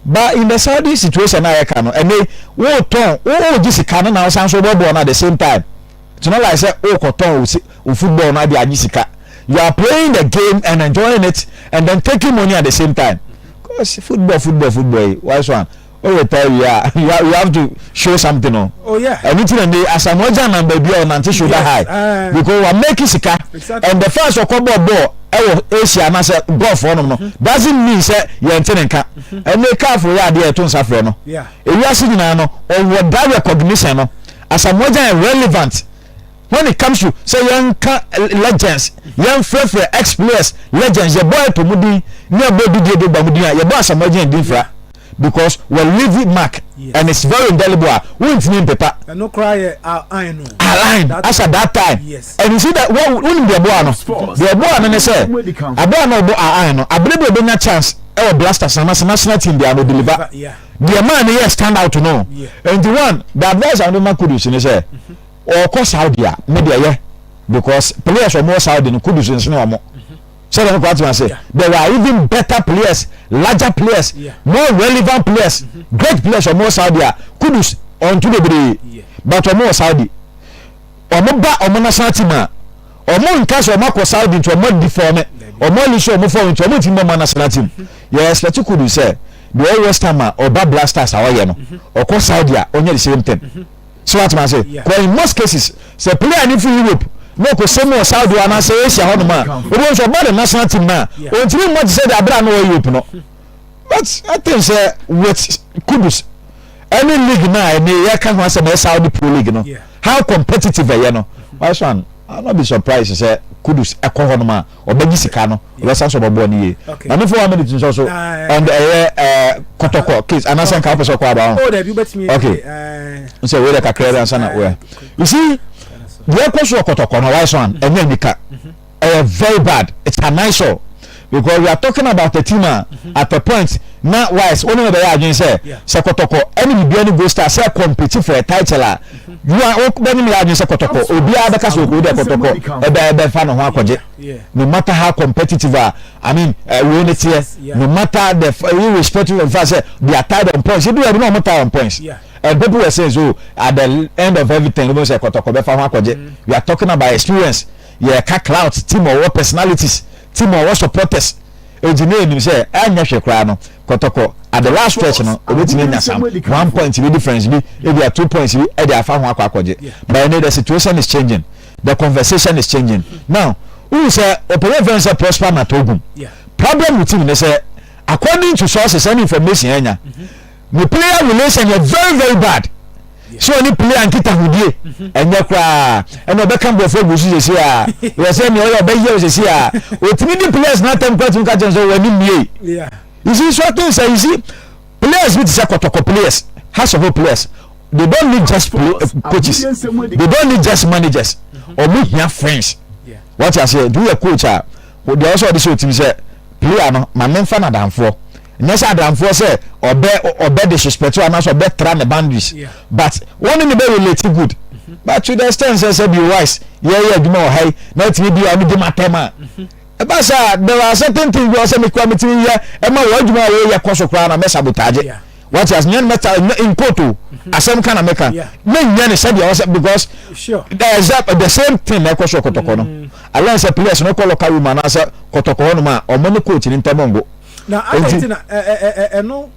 but in the Saudi situation a yɛka no ɛnɛ wotɔn wogye sika no na wosan so wobɔ bɔɔl no at the same time. Gyina like sɛ worekɔtɔn wo se wo football no ade agye sika. You are playing the game and enjoying it and then taking money at the same time. Cause football football football yi wise one o retire wie a you have to show something o. Oh yeah. Ɛno ti na ne Asamoah Gyan nam baabi a ɔnante shoulder yes. high uh, because wa make sika exactly. and the first ɔkɔ bɔ bɔɔl ɛwɔ Asia anaasɛ golf hɔnom no mm-hmm. doesn't mean sɛ yɛn ti ne nka ɛnna mm-hmm. kaafo yɛ adeɛ ɛto nsa frɛ no ewiase nyinaa no ɔwɔ that recognition no. Asamoah Gyan yɛ relevant when it comes to sɛ yɛnka legends yɛnfrɛfrɛ ex-players legends yɛbɔ ɛpo mu din ne ɛbɔ didie do ba mu din a yɛbɔ Asamoah Gyan din fra because wɔ leave mark and it's very indelible a wontumi mpepa ɛno koraa yɛ align no align as at that time yes. and you see that wonim deɛ ɛboa no deɛ ɛboa no ne sɛ abere a na ɔbɔ align no abere bi a ɔbɛnya chance ɛwɔ blasters anaasɛ national team bi a no deliver deɛ maa no yɛ stand out no nti one the advice a wɔde ma kudus ne sɛ ɔkɔ mhm. saudi a ne deɛ yɛ because players wɔn wɔ saudi no kudus nsene wɔn sɛdeɛ no kɔ atema sɛ there were even better players larger players more relevant players mhm. great players wɔn wɔ saudi a kudus ɔntu bebree but wɔn wɔ saudi wɔn ba wɔn national team a wɔn nka sɛ wɔn akɔ saudi nti wɔn adi fɔm wɔn ani sɛ wɔn fɔm nti wɔn ti mu wɔn national team mhm. yɛ expect kudus sɛ. Deɛ ɔyɛ west ham a ɔba black stars a ɔyɛ no ɔkɔ Saudi a ɔnyɛ the same thing so wate ma se kɔ in most cases sɛ player ne firi Europe na ɔkɔ sɛ mu wɔ Saudi hɔ anaasɛ Asia hɔ nom a obi nso ɔba the national team no a ɔntumi mmɔ te sɛ deɛ abere a na ɔyɛ Europe no but I think sɛ with Kudus ɛne league no a ɛne yɛka ho asɛm ɛyɛ Saudi Pro League no how competitive ɛyɛ no why so an I not be surprised sɛ Kudus ɛkɔ hɔ nom a Ɔbɛgye sika no, ɔbɛsan so ɔbɛboa no yie. Maame for one minute nso so and ɛyɛ eh, kɔtɔkɔ case anaasɛ nka wopɛ sɛ ɔkɔ aba ho. Okay. Nsɛ wei dɛ kakra bi ansa na wei. You see, deɛ ɛkɔ so wɔ kɔtɔkɔ no, wise one, ɛnyɛ anika. Ɛyɛ very bad. It's an eyesore. Because we are talking about a team a at a point na wise, wone no bɛyɛ adwene sɛ, sɛ kɔtɔkɔ ɛne bibia ne gold star sɛ compete for a title a, Wo a wo bɛ nim yɛ adwene sɛ kɔtɔkɔ obiara bɛka sɛ okoo dɛ kɔtɔkɔ ɛbɛ ɛbɛ fa ne ho akɔgye no matter how competitive a I mean uh, wei ne teɛ no matter the uh, irrespective of fact sɛ they are tied on points ebi wɔ ɛbi na wɔn tie on points yeah. and people were saying so at the end of everything wɔn sɛ kɔtɔkɔ bɛ fa ho akɔgye mm. we are talking about experience yɛ ka clout team ɔwɔ personalities team ɔwɔ supporters egyina enim sɛ ɛnyɛ hwɛ koraa no kɔtɔkɔ at the last stretch no obetumi anya some one point bi difference bi ebi a two points bi ɛde afa ho akɔ akɔgye but ɛnɛ the situation is changing the conversation is changing now wohu sɛ ɔpɛyɛ fɛn sɛ prosper ma togum problem with him ne sɛ according to sources and information ɛnya ne player relation yɛ very very bad. sɛ ɔne player nkitahodie ɛnyɛ koraa ɛna ɔbɛka nkurɔfoɔ agu so sɛsi a yɛ sɛ nea ɔyɛ ɔbɛyɛ wo sɛsi a ɔtumi di players no atɛm kora tumi ka kyɛn sɛ wɔne mmie you see so things sɛ you see players bi te sɛ kɔtɔkɔ players has a whole players they don't need just play, uh, coaches they don't need just managers ɔmo hia friends wɔte aseɛ nti woyɛ coach a deɛ ɔsɛ ɔde sɛ ɔtumi sɛ player no ma memfa no adamfoɔ Nyɛ sɛ adamfoɔ sɛ ɔbɛ ɔbɛ disrespect anaasɛ ɔbɛ tra ne boundaries but wɔn ne ne bɛ relate good mm-hmm. but to the extent sɛ sɛ bi wise yɛyɛ adwuma wɔ ha yi na ɛtumi bi a ɔno gyim atɛm a ɛba sɛ a there are certain things bi wɔ sɛ mekura metumi yɛ ɛma wɔn adwuma a wɔyɛ kɔ so koraa na mɛ sabotage wɔte ase nyɛ no mɛta nkoto mm-hmm. asɛm ka na mɛka mɛ nyɛ no sɛdeɛ wɔ sɛ because there is the same thing na ɛkɔ so kɔtɔkɔ no mm. alɛ sɛ players no kɔ lɔka room anaasɛ kɔtɔkɔ hɔ nom a ɔmo ne coach ne ntɛm ngo. Na adɛn nti na ɛno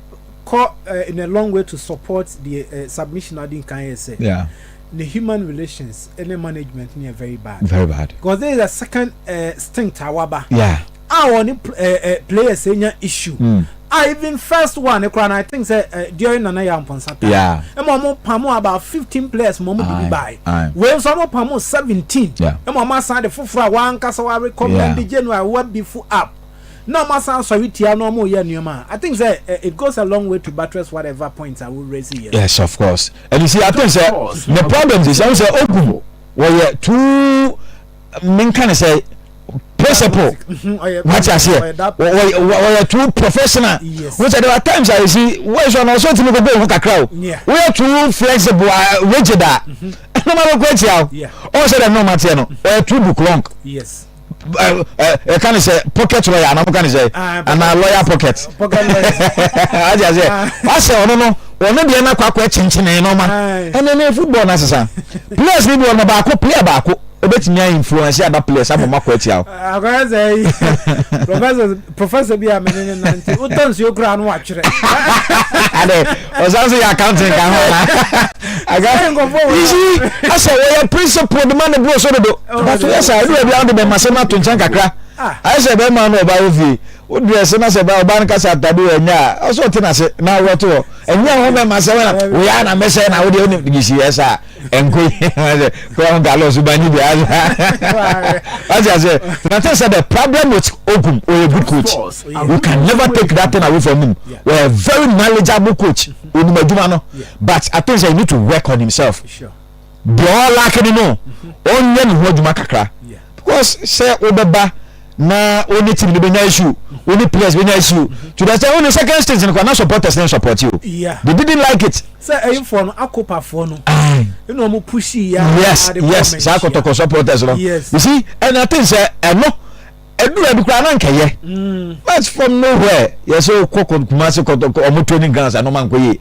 kɔ in a long way to support the submission na adi nkan yɛ sɛ ne human relations ne management no yɛ very bad. Very bad. Because there is a second stint a waba. Yeah. A wɔne players nya issue. Mm. A even first one koraa na I think sɛ during Nana Yaw Mponsa time. Yeah. Ɛma wɔn pamo about fifteen players ma wɔn de bi baae. Wei nso wɔn pamo seventeen. Yeah. Ɛma wɔn asan de foforɔ a wɔn ankasa wɔn recommend January wɔn abifu up. na ɔmo asan asɔre tia no ɔmo yɛ nneɛma a I think sɛ eh, it goes a long way to buttress whatever points a wo raise yɛ no. Yes of course and you see I think sɛ the problem is ɛho sɛ ogum wɔyɛ too menka ne sɛ principle wati aseɛ wɔyɛ too professional wọ́n sɛ there are times a yɛ si wọ́n yɛ sọ na ọsọ ti mi gbogbo ohun kakra o wọ́n yɛ too flexible rigid a. Yes. ɛnna ɔma bɛkɔ akyia o ɔn sɛ dɛ ɛnna ɔma teɛ no ɔyɛ too book long. Yes. ɛka ne sɛ pocket lawyer anaa mo ka ne sɛ ah, anaa lawyer pocket adi ase wasɛ ɔno no ɔno deɛ na kwakɔ ɛkyenkyene nɔɔma ɛnɛ ne football na sisan players ni bi wɔn baako player baako ebetumi a influence aba players ama ɔmo akɔ ɛtia o. akɔyɛ sɛ yi professor professor bi a mene ne nante wotɔ nsuo koraa no watwerɛ adɛ ɔsan so yɛ accounting ka ho isi asɛ wɔyɛ principle de ma ne boro so dodo but woyɛ saa ɛdu baabi a wode bɛma sɛ no ato nkyɛn kakra ayɛ sɛ bɛma no ɔba wo fie wodrɛ se na sɛ ba ɔba no kasa atade wɔ ɛnyɛ a ɔsɛ ɔte nase na awurɔto hɔ ɛnyɛ ho bɛma sɛ woyɛ na mɛsɛ na wode ɔne gyisi yɛ saa nkoyi ɔsɛ kura ho galɔ so banyi bi asa ɔsɛ ase na te sɛ the problem with ogum or a good coach you can never take that thing away from him we are a very knowledgeable coach onim adwuma no but i think say he need to work on himself deɛ ɔlaake no no ɔnyɛ ne ho adwuma kakra because sɛ wobɛba na wo ne team no bɛnya issue wo ne players bɛnya issue to the extent wo ne second stage no kora na supporters ne support you yeah. they didn't like it sɛ ɛyinfoɔ no akopafoɔ no ɛna ɔmo pushi ya yes yes saa kɔtɔkɔ supporters no yes. you see and I think sɛ ɛno ɛdura bi koraa na nkɛyɛ mm. but from nowhere yɛsɛ wokɔ kumase kɔtɔkɔ ɔmo training grounds anoma nkɔ yie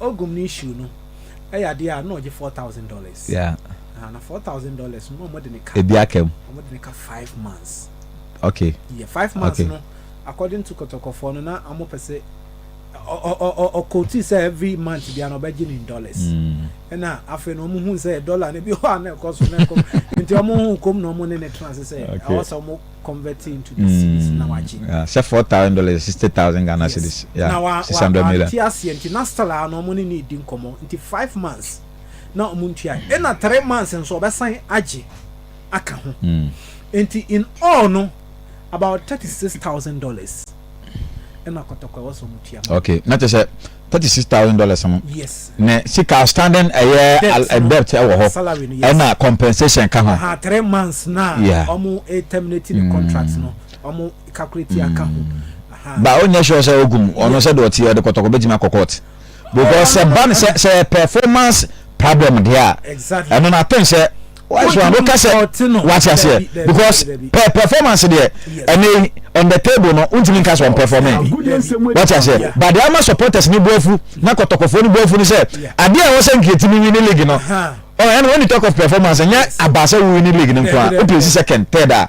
Ogum ne shoe no yɛ adeɛ a na ɔgye four thousand dollars. Yeah. Na four thousand dollars no na wɔde ne ka. Ebi aka mu. Wɔde ne ka five months. Okay. Yeah, five months okay. no according to kɔtɔkɔfoɔ no na wɔn pɛ sɛ ɔkɔti sɛ every month bia na ɔbɛgye ne dollars. Ɛna mm. afei na wɔn hu sɛ dollar no bi hɔ a na ɛkɔ so na ɛkɔ nti wɔn hu kom na wɔn ne ne tena ase sɛ ɛwɔ sɛ wɔn. Yeah, sɛ four thousand dollars sixty thousand Ghana cedis. Yes. Yeah, na wa six hundred million. Ti aseɛ nti na still ano ɔmo ne ne di nkɔmɔ nti five months na ɔmo ntua ɛna three months nso ɔbɛsan agye aka ho mm. nti in all no about thirty six thousand dollars ɛna kɔtɔkɔ ɛwɔ sɛ ɔmo tua. Okay, na kyɛ sɛ. thirty six thousand dollars no ne sika outstanding ɛyɛ eh, debt ɛwɔ hɔ ɛna compensation ka ho. three months na ɔmo eh, terminate ne contract mm. no ɔmo calculate aka ho. Mm. ba o nyɛ sure sɛ ogum ɔno sɛ de ɔte ɔde kɔtɔkɔ bɛtumi akɔ court because sɛ ban sɛ sɛ performance problem deɛ a ɛno na ten sɛ. so ano ka sɛ wate aseɛ because per performance deɛ ɛne on the table no wontumi nka sɛ ɔmpɛfɔme wate aseɛ but deɛ ama supporters ne boafu na kɔtɔkɔfoɔ ne boafu no sɛ adeɛ a ɛwɔ sɛ nkeɛtumi wi ne league no ɛne when you talk of performance ɛnyɛ aba sɛ wowi ne league no nkoa wopɛ si second third a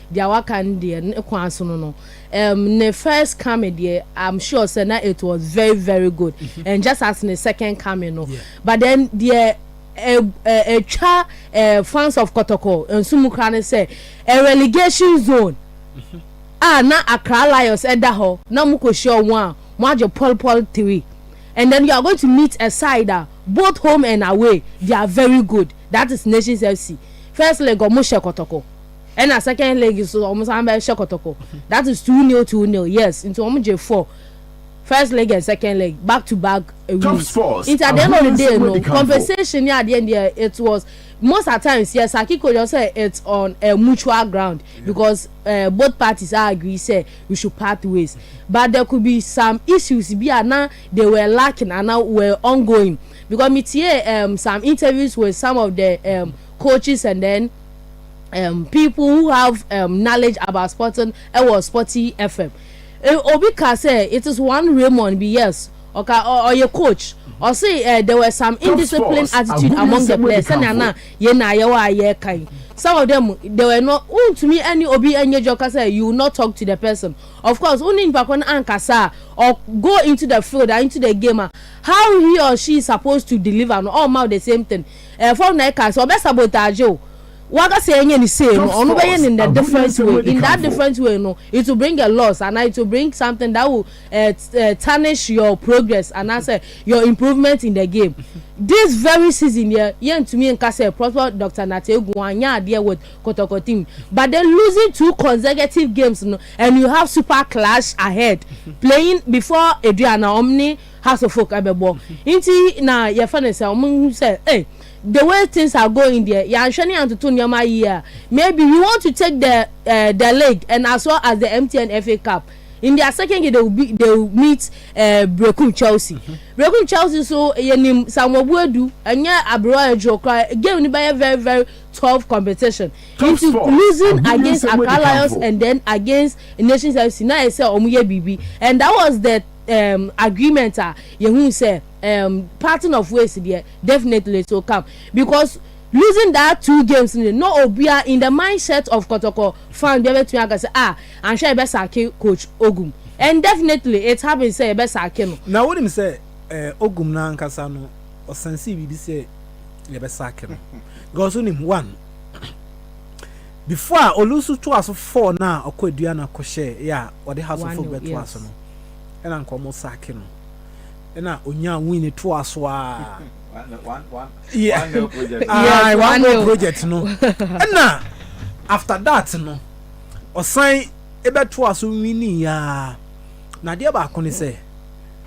Deɛ waka no deɛ ne kwan sono no um, ne first coming deɛ I'm sure sɛ na it was very very good mm -hmm. and just as ne second coming no yeah. but then deɛ ɛtwa uh, uh, uh, fans of kɔtɔkɔ nso mu kora ne sɛ a relegation zone mm -hmm. a na Accra Lions ɛda hɔ na mo kɔhyia wɔn a mo agye pɔlpɔl three and then you are going to meet a side a both home and away they are very good that is Nations FC first leg ɔmo hyɛ kɔtɔkɔ. Ɛna second leg nso wɔn san bɛ hyɛ kɔtɔkɔ that is two nil two nil yes nti wɔn gye four first leg and second leg back to back wins nti at the end of the day no compensation ni adeɛ deɛ it was most at times yes akiko yɛ sɛ it's on a mutual ground because uh, both parties are agree say we should part ways but there could be some issues bi a na they were lacking and now were ongoing because me tie um, some interviews with some of the um, coaches and then um, people who have um, knowledge about sporting ɛwɔ sporty fm e, obi ka sɛ it is one raymond bi yes ɔka ɔyɛ coach ɔse uh, eh, there were some indisciplined attitude among the players sɛnea na yɛn na ayɛwɔ a yɛreka yi some of them they were not wontumi ɛne obi ɛnyɛ dwa kasa you will not talk to the person of course wone nipa ko no ankasa or go into the field and into the game how he or she is supposed to deliver no all mouth the same thing ɛfam na ɛka sɛ ɔbɛ sabotage o waka sɛ ɛnyɛ ne sei no ɔno bɛyɛ no in a different way in that different way no it will bring a loss and it will bring something that will uh, uh, tarnish your progress and I say your improvement in the game this very season yɛ yɛntumi nka sɛ prosper dr nategu anyɛ adeɛ with kɔtɔkɔ team but they losing two consecutive games no and you have super clash ahead playing before aduana omni. House of folk ɛbɛbɔ nti na yɛfɛ no sɛ ɔmo hu sɛ eh the way things are going deɛ yɛanhwɛ ne yɛantoto nneɛma yie a maybe we want to take the eh the league and as well as the MTN FA Cup in their second game they will be they will meet eh Brekum Chelsea mm -hmm. Brekum Chelsea so yɛnim Samuel Boadu ɛnyɛ aberewa aduro koraa game no bɛyɛ very very tough competition tough into sport. losing Abu against Accra Lions and then against Nations FC na yɛ sɛ ɔmo yɛ biribi and that was the um, agreement a yehu sɛ um, parting of ways deɛ definitely so come because losing that two games no no obia in the mindset of kɔtɔkɔ fan bia bɛtumi aka sɛ ah anhwɛ yɛbɛ sake coach ogum and definitely it happens sɛ yɛbɛ sake no. na wonim sɛ eh, ogum no ankasa no ɔsansee biribi sɛ yɛbɛ sake no because wonim one Before a olu nso toa so four no a ɔkɔ aduana kɔ hyɛɛ yɛ a ɔde house of folk bɛtoa so no ɛna nka ɔmo saake no ɛna onyaa win no toa so a ae one girl project no ɛna after that no ɔsan ɛbɛtoa so winning yaa na adeɛ baako ne sɛ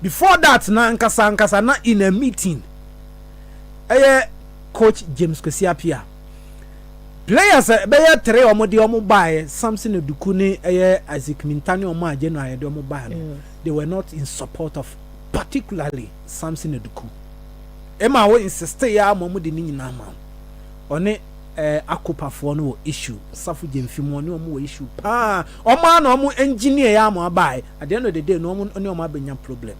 Before that no ankasa ankasa na in a meeting ɛyɛ coach James Kwesi Appiah players ɛbɛyɛ three wɔn de wɔn baeɛ Samson Oduku ne ɛyɛ Isaac Minta ne wɔn a January yɛde wɔn baeɛ no mm. they were not in support of particularly Samson Oduku ɛma wo insiste yɛ ama wɔn de ne nyinaa ma ɔne ɛɛ eh, akopafoɔ no wɔ issue safo gyemfi mu ɔne wɔn wɔ issue paa wɔn a na wɔn engineer yɛ ama baeɛ. at the end of the day no ɔmo ne ɔmo abɛnya problem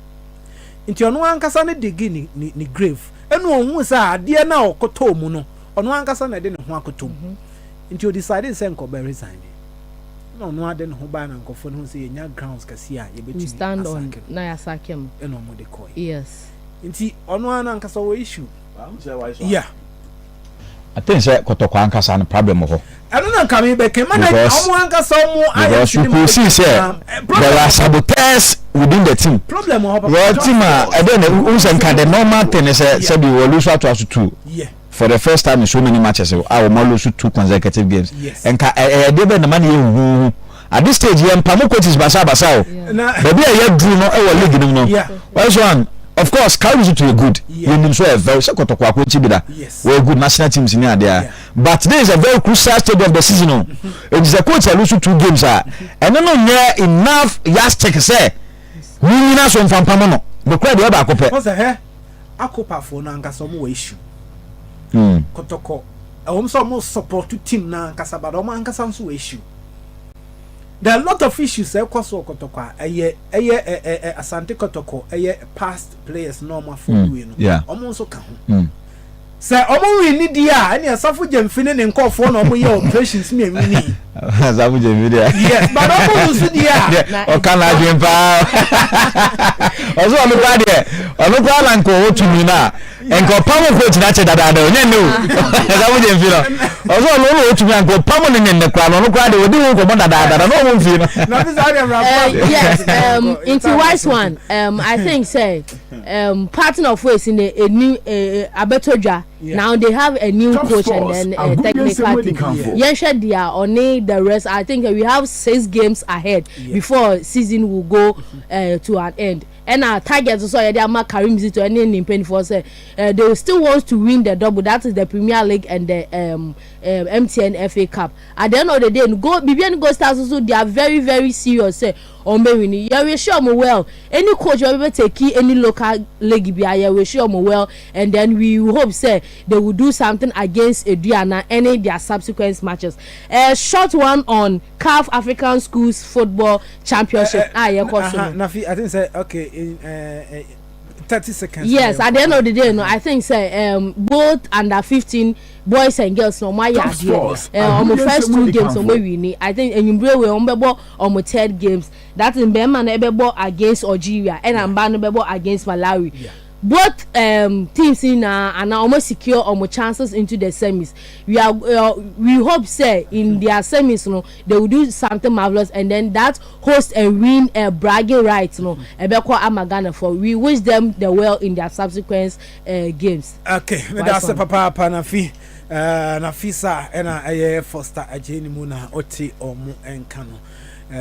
nti ɔno ankasa ne digi ne ne ne grave ɛna ohun sɛ adeɛ na ɔkotɔɔ mu no ɔno ankasa na ɛde ne ho akotɔ mu mhm. nti o decide sɛ nkɔbɛ resign na ɔno ade ne ho baa na nkɔfoɔ no ho sɛ yɛnya grounds kɛseɛ a yɛbɛtumi asake no ɛna ɔmo de kɔɛ yes nti ɔno ara no ankasa wɔ issue Yeah. I think sɛ kɔtɔkɔ ankasa no problem wɔ hɔ. ɛno na nka mi bɛ kɛ ma na ɔmo ankasa ɔmo ayɛ because you could see sɛ there are saboteurs within the team problem wɔ hɔ papa wɔ team a ɛdɛ na n sɛ nka the normal thing ne sɛ sɛbi wɔ lose ato aso two for the first time in so many matches a wɔn lose two consecutive games nka ɛyɛ deɛ bɛ na ma ne yɛ huhuhu. At this stage yɛn mpamo coaches basabasa o. Baabi a yɛaduru no wɔ league no mu no, wɔyɛ so an. Of course, Kauri so to yɛ good. Yɛnim so ɔyɛ very sɛ kɔtɔkɔ akɔnkye bi da. Wɔyɛ good national teams ne adeɛ a. But this is a very crucial stage of the season o. Enti sɛ coach alu so two games a, ɛno no nyɛ enough yardstick sɛ munyina so mfa mpamo no. Nokorɛ deɛ ɛbaako pɛ. Wɔsɛ hɛ akopafoɔ no ankasa wɔn wɔ issue. Kɔtɔkɔ ɛwɔm sɛ wɔn support team no ankasa but wɔn ankasa nso wɔ issue. There are a lot of issues a ɛkɔ so wɔ Kɔtɔkɔ a ɛyɛ ɛyɛ ɛ ɛ ɛ Asante Kɔtɔkɔ ɛyɛ past players na wɔn afɔ mm. wie no yeah. wɔn nso ka ho. Mm. Sɛ wɔn nwi ni di a ɛne asafo gyemfi ne ne nkɔfoɔ na wɔn yɛ operations ne ɛnwi ni. Asafo gyemfi di a. Yes but wɔn nso di a. Ɔka na adwene paa. Ɔsɔ ɔno kura deɛ ɔno kura na nkɔwɔ tumi na. nka ɔpam nkɔ gyina kyɛ dadaada ɔnyɛ nnɛ o ɛsɛ mo gye mfi no ɔsɛ ɔno ɔno ɔtumi anka ɔpam no nyɛ nnɛ koraa no ɔno koraa de ɔdi ho nkɔmmɔ dadaada na ɔmo mfi no. yes um, nti wise one um, i think sɛ um, partner of ways in a, new uh, eh, eh, abɛtɔ dwa now they have a new Top coach sports, and then uh, technical team yɛnhwɛ deɛ ɔne the rest i think we have six games ahead yeah. before season will go uh, to an end. Ɛna target nso a yɛde ama Karim Zito ne ne mpanimfoɔ sɛ eh, they still want to win the double that is the Premier League and the um, um, MTN FA Cup. At the end of the day no go biribi ne Gold Stars nso they are very very serious sɛ wɔn bɛ win. Yɛwish wɔn well any coach wɔn bɛ take any local league bi a yɛwish wɔn well and then we hope sɛ they will do something against Aduana any their subsequent matches. A eh, short one on. Caf African Schools Football Championship a yɛkɔ so no. Nafi, I think sɛ okay in thirty seconds. Yes, at the end of the day no, I think sɛ um, both under fifteen boys and girls na wɔn ayɛ adeɛ no. Wɔn first two games wɔn awi ni. I think enyimbre wei wɔn bɛbɔ wɔn third games. That is bɛrima no bɛbɔ against Algeria ɛna mba no bɛbɔ against Malawi. Yeah. Both um teams no nyinaa ana wɔn secure wɔn chances into the semis. We are uh, we hope say in their semis no they will do something marvelous and then that host and win uh, bragging rights no ɛbɛkɔ mm-hmm. ama Ghana for. We wish them the well in their subsequent uh, games. Okay, me da se papa pa na fi uh, na fi sa ɛna ɛyɛ Foster agye ne mu na ɔte ɔmo nka no. Uh,